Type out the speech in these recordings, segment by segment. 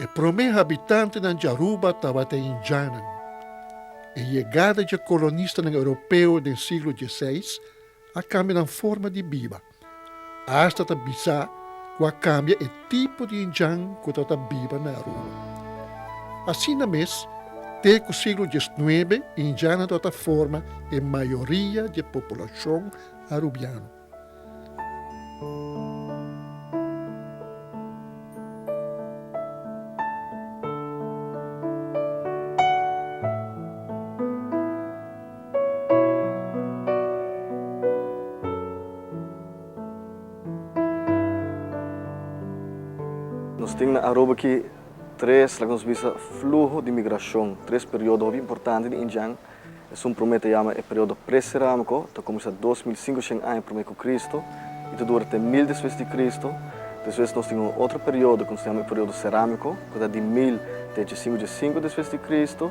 E promé habitantenan di Aruba tabata Indianan. E yegada dje kolonistanan Europeo den siglo diesiseis a kambia nan forma di biba. Asta ta bisa ku a kambia e tipo di hinchán ku ta ta biba na Aruba. Asina mes, te ku siglo diesnuebe hinchánnan tabata forma e mayoria di e populashon arubiano. Nos tin na Aruba aki tres, loke nos bisa, fluho di migrashon, tres periodo hopi importante di Indian. Esun promé ta yama e periodo pre-serámiko, ta kuminsá dos mil sinku shen aña promé ku Kristu i ta dura te mil despues di Kristu. Despues nos tin un otro periodo ku nos ta yama e periodo serámiko, ku ta di mil te dje sinku dje sinku despues di Kristu.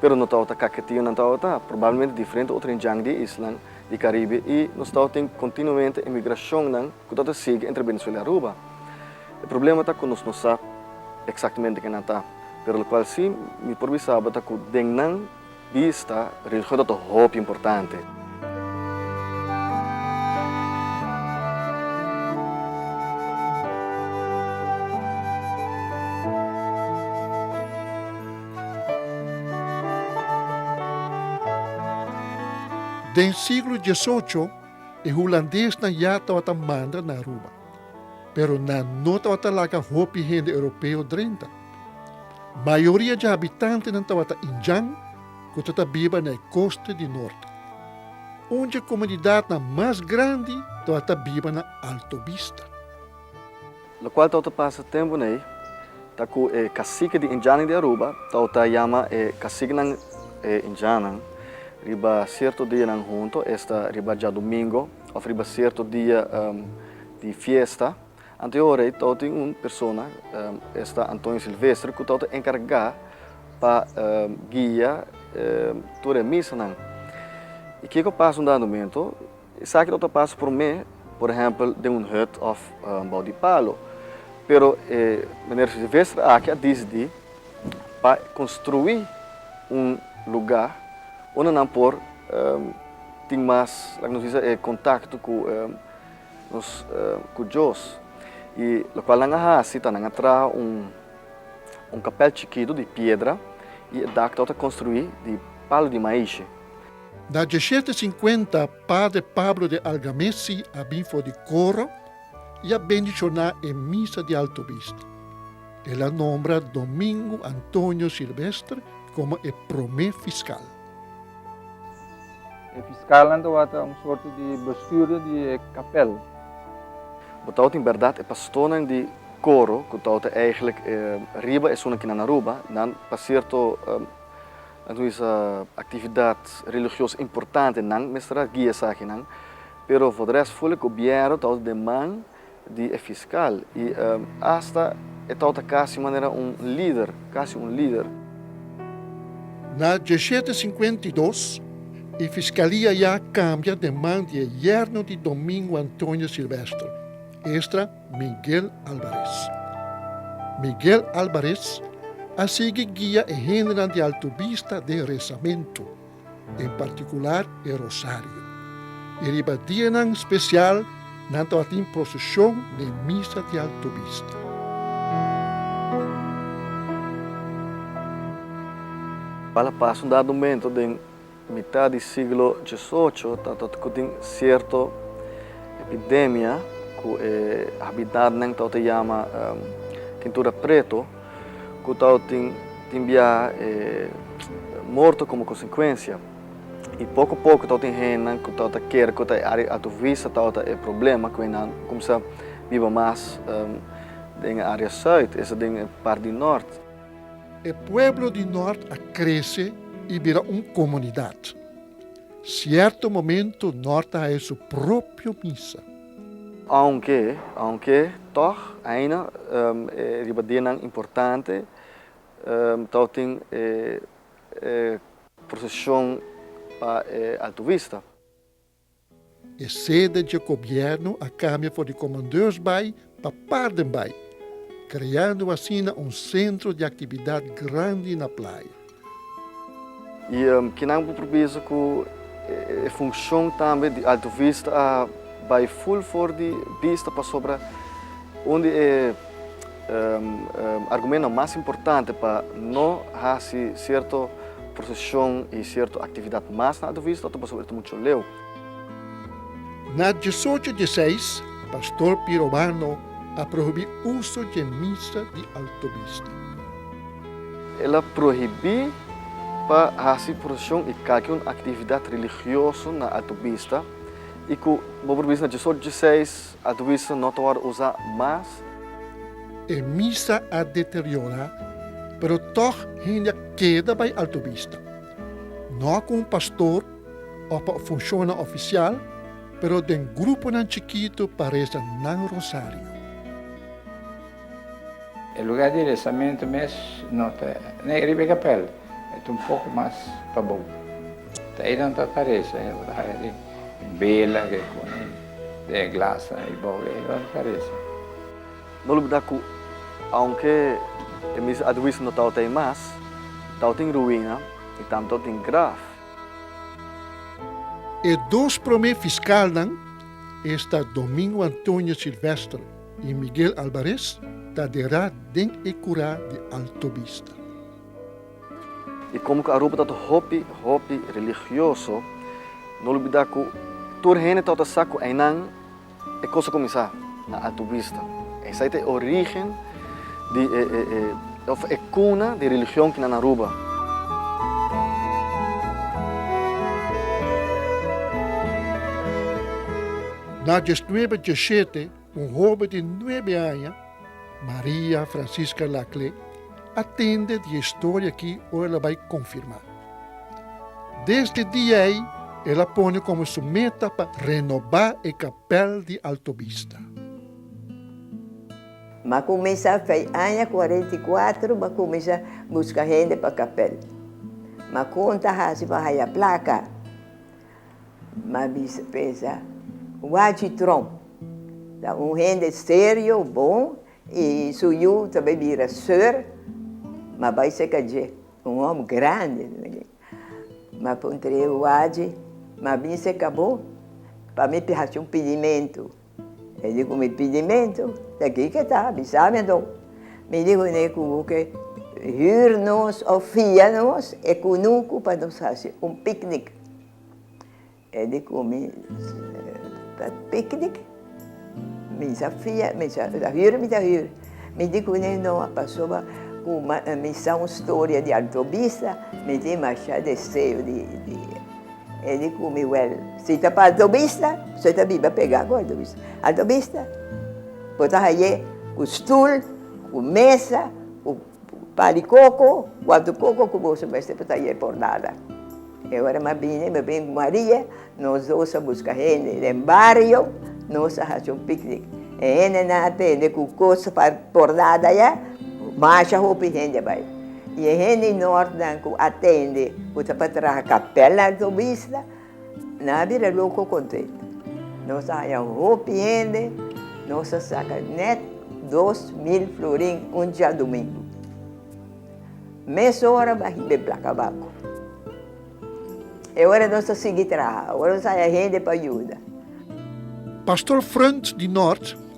pero no tabata kaketio nan tabata probablemente diferente otro hende djang di e islan di Caribe y nos tabata tin continuamente emigracionnan cu tabata sigui entre Venezuela y Aruba. E problema ta cu nos no sa exactamente ken nan ta pero locual si mi por bisaba ta cu den nan bista religion tabata hopi importante. Den siglo diesocho e hulandesnan ya tabata manda na Aruba, pero nan no tabata laga hopi hende europeo drenta. Mayoria dje habitantenan tabata Indian ku ta ta biba na e kosta di norte. Un dje komunidatnan mas grandi tabata biba na Alto Vista. Lokual tau ta pasa tempunan ei ta ku e kasiki di Indianan di Aruba tau ta yama e kasikinan e Indianan riba sierto dianan huntu, esta riba djadumingo òf riba sierto dia di fiesta. Anto e ora ei tau tin un persona, esta Antonio Silvestre, ku tau ta enkargá pa guia tur e misanan. I kiko pasa un dado mentu? Esaki lo ta pasa promé, por ehèmpel den un hut òf bou di palo. Pero e Meneer Sylvester aki a disdi pa konstruí un lugá unda nan por tin mas, laga nos bisa, e kontakto ku nos ku Dios. I lokual nan a hasi ta nan a traha un kapèl chikitu di piedra i e dak ta ota konstruí di palu di maishe. Na diesshete sinkuenta Padre Pablo de Algamessi a bin for di koro i a bendishoná e misa di Altovista. El a nombra Domingo Antonio Silvestre komo e promé fiskal. E fiskalnan tabata un sorto di bestuurder di e kapèl. Bo ta outi bèrdat e pastornan di koro ku ta outi èiglèk riba esunnan ki nan Aruba, nan pa sierto. Anto sa actividad religioso importante nan mester a guia esaki nan, pero for de rest full e gobierno tawata den man di e fiscal y hasta e tawata casi manera un lider, casi un lider. Na diecisiete cincuenta y dos e fiscalia ya cambia den man di e yerno di Domingo Antonio Silvestre, estra. Miguel Alvarez. Miguel Alvarez a sigui guia e hendenan di Altubista den resamentu, en partikular e rosario, i riba dianan spesial nan tabatin proseshon den misa di Altubista. Palapasun dado mento den Mitat di siglo diesocho ta tor ku tin sierto epidemia ku e habitannan ta ota yama Tintura Preto ku ta ota tin biaha e morto komo konsekuensia. I poko poko ta ota tin hendenan ku ta ota kere ku ta e área Altovista ta ota e problema ku hendenan kumsa biba mas den e área Sùit, esa den e parti di Nòrt. E pueblo di nort a krese i bira un komunidat. Sierto momento nort a haya su propio misa. Aunke, aunke, tòg, aina, e riba dianan importante, tau tin e prosesion pa e Alto Vista. Esede dje gobièrnu a kambia for di komandeurs bai pa parden bai, kreando asina un sentro di aktividat grandi na playa. I kinan ku permiso ku e funshon tambe di Alto Vista a bai ful for di bista pasobra un di e. argumentonan mas importante pa no hasi sierto prosesion i sierto aktividat mas na Advuvist ota pasobra e ta muchu leu. Na diesocho di seis, Pastor P. Robano a prohibí uso dje misa di Altobista. El a prohibí pa hasi prosesion i kalki un aktividat religioso na Altobista i ku bo por bisa na diesocho di seis, Adwiso no ta wòrdu usá mas. E misa a deteriorá, pero tòg hende a keda bai Alto Vista. No ku un pastor òf pa funshonnan ofisial, pero den gruponan chikitu pa resa nan rosario. E lugá di resamentu mes no ta nei riba e kapèl. E ta un poco mas pa bou. Ta einan ta Tharesa e ta haya di bela ke kuni den e glas nan ei bou ei ora Tharesa. No lubda ku aunke e mis Adwies no tau ta ei mas, tau tin ruina i tambe tau tin graf. E dos prome fiskalnan, esta Domingo Antonio Silvestre i Miguel Albares, ta dera den e kura di Altovista. I komo ku Aruba ta ta hopi hopi religioso, no olbidá ku tur hende ta ta sa ku einan e kos a kuminsá, na Alto Vista. Esei ta e orígen di e òf e kuna di religion ku na na Aruba. Dages nuebe dje shete. Un hobe di nuebe aña, Maria Francisca Laclé, a tende di e historia aki ora el a bai konfirmá. Desde dia ei el a pone komo su meta pa renobá e kapèl di Altovista. M'a kumensá fei aña kuarenta i kuatro m'a kumensá buska hende pa kapèl. M'a konta hasi pa haya plaka. Mabisa pensa, Wachi Trump ta un hende serio, bon i su yu ta bai bira sir, ma bai seka dje un hòm grandi. Ma puntra e wachi, Mabisa ka bo pa mi hasi un pidimentu? E di ku mi pidi mento, ta kiko e ta, bisa mi anto. Mi di ku ne ku ke hür nos òf fia nos e kunuku pa nos hasi un picnic. E di ku mi, pa picnic? Mi sa fia, mi sa hür mi ta hür. Mi di ku ne no, pasobra ku mi sa un storia di alto bista, mi tin masha deseo di. E di cu mi wel, si ta pa altobista, so e ta biba pega cu altobista. Altobista bo ta haye cu stoel, cu mesa, cu pa di coco, cu anto coco cu bo so mester pa ta haye por nada. E ora mi a bini, mi a bini cu Maria, nos dos a busca hende den bario, nos a haci un picnic. E hende nan a tende cu cos pa por nada ya, masha hopi hende a bay. E hende Noordnan cu a tende cu ta pa traha capel na Altobisla nan a bira loco contr'e. Nos a haña hopi hende, nos a saca net dos mil florin un djadomingo. Mes ora baji b'e placa banco. E ora nos a sigui traha, ora nos a haña hende pa yuda. Pastor Frundt di Noord.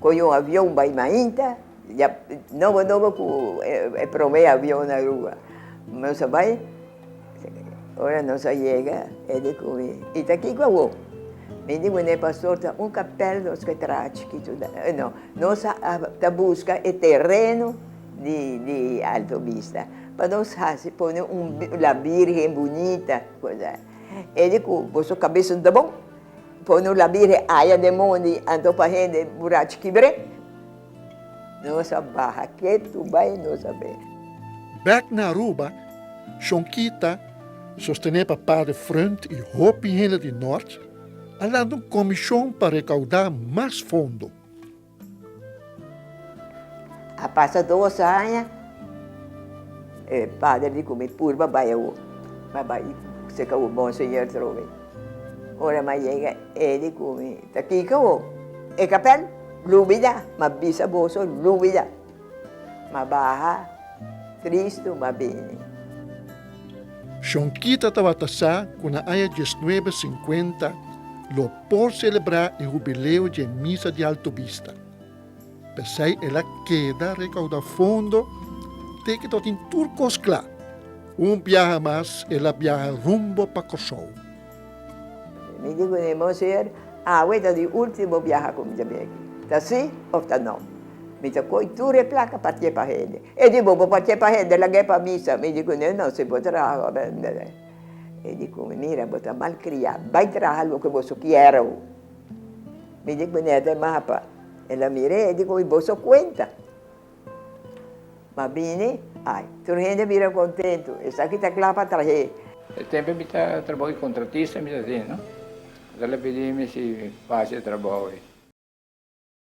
Koe un avion bai mainta, ya nobo nobo ku e prome avion a rua. Nos a bai, ora nos a yega e di ku mi, I ta kiko awo? Mi di, Wene pastor, ta un kapèl nos ke traha chikitu. No, nos ta buska e tereno di Alto Vista pa nos hasi, pone un la Birgen bunita. E di ku, Boso kabes no ta bon? Por no labi re aya den mondi anto pa hende burachi kibre nos a baha ketu bai nos a bera. Bek na Aruba, Shonquita, sostené pa Padre Freund y hopi hende di Nort, a lanta un comishon pa recaudá mas fondo. A pasa dos aña, e pader di ku mi purba bai awo, a bai seka awo bon señor trobe. Ora mi a yega, e di ku mi, Ta kiko awo? E kapèl? Lubida, mi a bisa boso, lubida. M'a baha, Kristu m'a bini. Shon Kita tabata sa ku na aña diesnuebe sinkuenta lo por selebrá e hubileo dje misa di Alto Bista. P'esei el a keda rekaudá fondo te ke ta tin tur kos kla. Un biaha mas el a biaha rumbo pa Kòrsou. Mi di ku Nemo, Señor, awe ta di último biaha ku mi ta bin aki. Ta sí òf ta nò? Mi ta koge tur e plaka pa tiepa hende. E di bobo pa tiepa hende lag'é pa mi sa. Mi di ku Nemo, No, si bo traha òf el no bai. E di ku mi, Mira, bo ta malkriá. Bai traha loke boso kier awo. Mi di ku Nemo, Maha pa. El a mir'é, e di ku mi, Boso kuenta. Ma bini, ai, tur hende a bira kontentu. Esaki ta kla pa trahe. E tempu mi ta trabou di kontratista mi ta tene, no? Ora el a pidi mi si mi fasi e trabou ei.